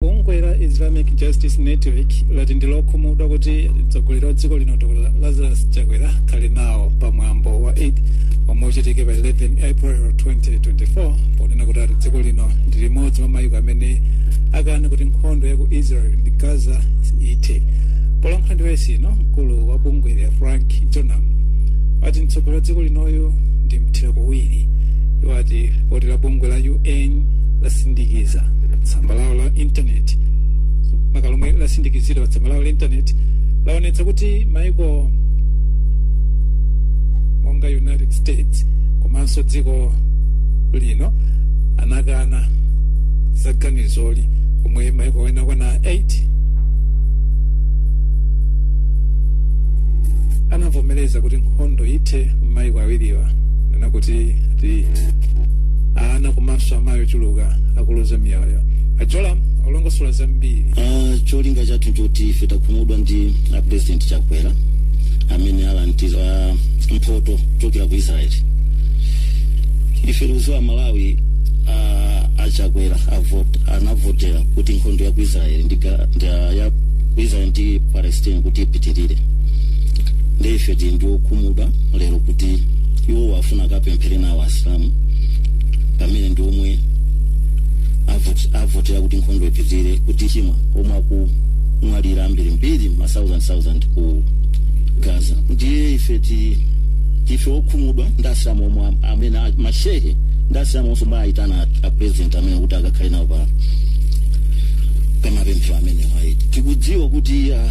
bungwe la islamic justice network lati ndi lokhumudwa kuti mtsogoleri wa dziko lino dr lazarus chakwera akhale nawo pa mwambo wa eid omwe uchitike pa 11 april 2024 ponena kuti ati dziko lino ndi limodzi mwa mayiko amene akana kuti nkhondo ya ku israel ndi gaza ithe polankhula ndi wailesi ino mkulu wa bungweli a frank jonam ati mtsogoleri wa dziko linoyu ndi mthira kuwiri iwo ati lipoti la bungwe la un lasindikiza tsamba lawo la intaneti makamaka lomwe lasindikizidwa pa tsamba lawo la intaneti laonetsa kuti maiko monga united states komanso dziko lino anakana za ganizoli pomwe maiko ena okwana 8 anavomereza kuti nkhondo ithe m'maiko awiriwa ponena kuti ati ana komanso amayi ochuluka akuluza miyoyo a jonam akulongosola zambiri Ah, cholinga chathu choti ife takhumudwa ndi a president chakwera amene alandira mphoto chokera ku israel ife tikuziwa malawi ah, achakwera avot- anavotera kuti nkhondo ya ku israel ndi ga- ndi ya- ya ku israel ndi palestine kuti ipitirire ndiye ife tili ndi okhumudwa lero kuti iwo afuna akapemphere nawo asilamu pamene ndi omwe avot- avotera kuti nkhondo ipitirire kuti chi mwa omwe akumwalira ambirimbiri ma 1000 ku gaza ndiye ife ti ife okhumudwa ndi asilamu omwe am- amene a- mashehe ndi asilamu onse omwe ayitana a president amene kuti akakhale nawo pa pamapemphero amenewa ayi tikudziwa kuti ah,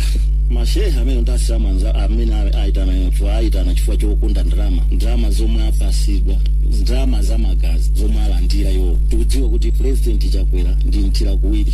mashehe amene ndi asilamu anza- amene a- ayitana chifukwa ayitana chifukwa chokonda ndalama ndalama zomwe apasidwa ndalama za magazi zomwe alandira iwo tikudziwa kuti pulezidenti chakwera ndi mthira kuwiri